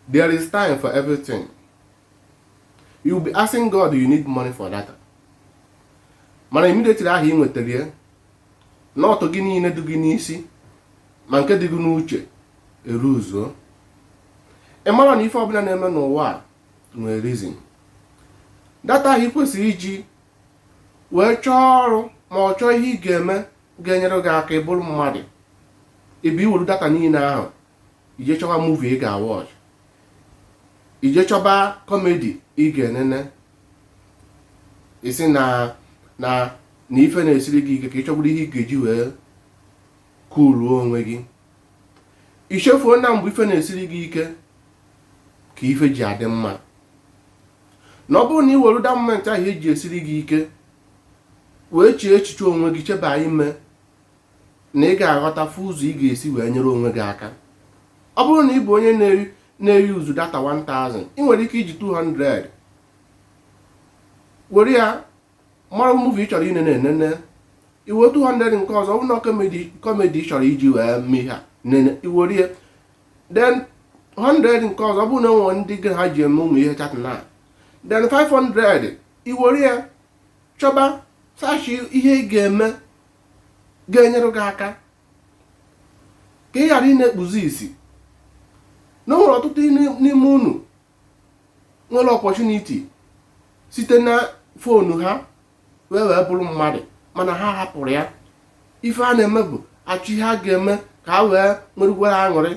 there is time for everything you will be asking God you need money for data mana immediately ahụ ị nwetara ya n'ọtụ gị niile dị gị n'isi ma nke dị gị n'uche eruzuo ị mara na ife ọbụla na-eme n'ụwa a nwere reason data ahụ ị kwesịrị iji wee chọọ ọrụ ma ọ chọọ ihe ị ga-eme ga-enyere gị aka ịbụrụ mmadụ ebe iwere data niile ahụ ije chọba movie ị ga-awatch ije chọba comedy ị ga-enene ị sị na na ife na-esiri gị ike ka ị chọburu ihe ị ga-eji wee kuluo onwe gị i chefuo na mgbe ife na-esiri gị ike ka ife ji adị mma na ọ bụrụ na ị were that moment ahụ ihe ji esiri gị ike wee chee echiche onwe gị cheba ime na ị ga-aghọta fụ ụzọ ị ga-esi wee nyere onwe gị aka ọ bụrụ na ị bụ onye na-eri uzu data 1000 ị nwere ike iji 200 were ya mara movie ị chọrọ inene nene iwe 200 nke ọzọ ọ bụrụ na comedy ị chọrọ iji wee mee ihe a nene iwere ya then 100 nke ọzọ ọ bụrụ na e nwee ndị gị na ha ji eme ụmụ ihe chat na then 500 iwere ya chọba search ihe ị ga-eme ga-enyere gị aka ka ị ghara ịna-ekpuzi isi na o nwere ọtụtụ n'ime unu nwere opportunity site na phone ha wee wee bụrụ mmadụ mana ha hapụrụ ya ife ha na-eme bụ achọ ihe ha ga-eme ka ha wee nwerukwara aṅụrị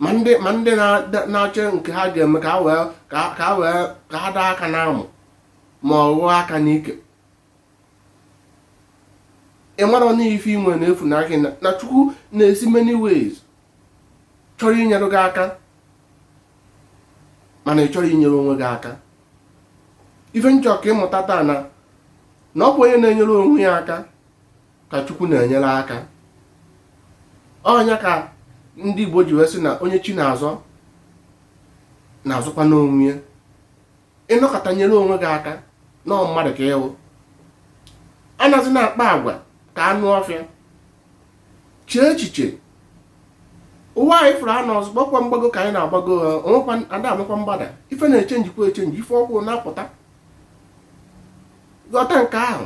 ma ndị na-achọ nke ha ga-eme ka ha daa aka n'amụ ma ọ ghụọ aka n'ike ị mara na ife i nwe na-efuna gị na chukwu na-esi many ways chọrọ inyere gị aka mana ị chọrọ inyere onwe gị aka ife m chọ ka ị mụta taa na na ọ bụ onye na-enyere onwe ya aka ka chukwu na-enyere aka ọ nya ka ndị igbo ji wee sị na onye chi na-azọ na-azọkwanụ onwe ya ị nọkata nyere onwe gị aka na ọ mmadụ ka ị wụ anazina akpa agwa ka anụ ọfịa chee echiche ụwa anyị fụrụ anọ ọzọ gbakwa mgbago ka anyị na-agbago ada enwekwa mgbada ife na-echenjikwa echenji ife ọfụụ na-apụta ghọta nke ahụ